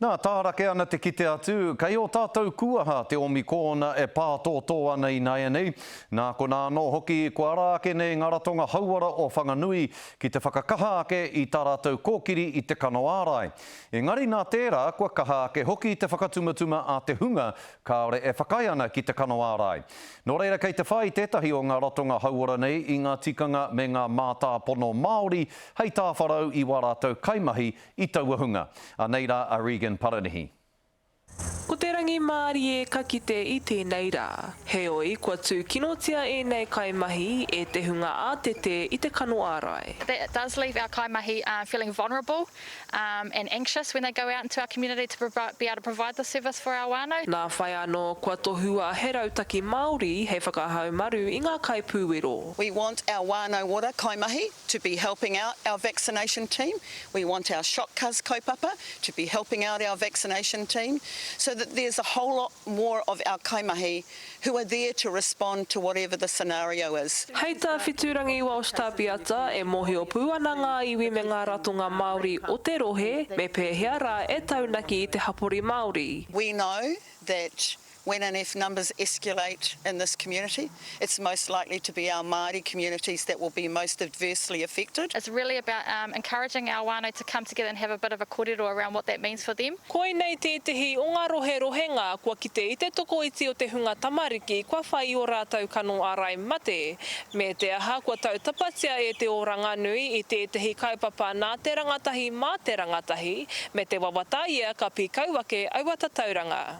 Nā, tārake ana te kite atu, kei ō tātou kūaha te omi kōna e pātōtō ana ināianei, nā konā anō hoki kua ara ake nei ngā ratonga hauora o Whanganui ki te whakakaha ake i tā rātou kōkiri i te kano ārai. Engari nā tērā kua kaha ake hoki te whakatumatuma a te hunga kāore e whakaae ana ki te kano ārai. Nō reira kei te whai tētahi o ngā ratonga hauora nei i ngā tikanga me ngā mātāpono Māori hei tāwharau i wā rātou kaimahi I taua hunga. Anei rā a Regan Paranihi. Ko te rangimārie ka kite i tēnei rā. Heoi, kua tūkinotia ēnei kaimahi e te hunga ātete i te kano ārai. That does leave our kaimahi feeling vulnerable and anxious when they go out into our community to be able to provide this service for our whānau. Nā whai anō kua tohua he rautaki Māori hei whakahaumaru i ngā kaipūwero. We want our whānau ora kaimahi to be helping out our vaccination team We want our Shot Cuz kaupapa to be helping out our vaccination team so that there's a whole lot more of our kaimahi who are there to respond to whatever the scenario is. Hei tā Whiturangi Walsh Tapiata, e mōhio pū ana ngā iwi me ngā ratonga Māori o te rohe me pēhea rā e taunaki i te hapori Māori. We know that When and if numbers escalate in this community, it's most likely to be our Māori communities that will be most adversely affected. It's really about encouraging our whānau to come together and have a bit of a korero around what that means for them. Koinei tētehi o ngā rohe rohenga kua kite i te tokoiti o te hunga tamariki kua whai i ō rātou kano ārai mate. Me te aha, kua tautapatia e te oranga nui i tētehi kaupapa nā te rangatahi mā te rangatahi, me te wawata ia ka pīkau ake aua tatauranga.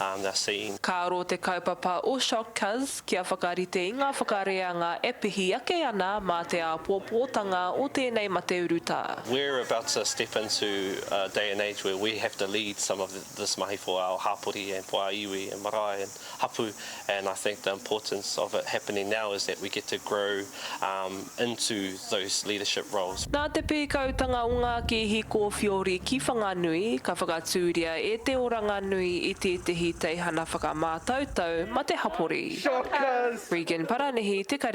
um they're seeing. Ka aro te kaupapa o Shockcuz kia whakarite i ngā whakareanga e pihi ake ana mā te āpōpōtanga o tēnei mate urutā. We're about to step into a day and age where we have to lead some of this mahi for our hapori and for our iwi and marae and hapu and I think the importance of it happening now is that we get to grow um into those leadership roles. Nā te pīkautanga o ngā kēhi kōwhiori ki Whanganui, ka whakatūria e te oranga nui i tētehi teihana whakamātautau mate hapori. Regan Paranihi, Te Karere.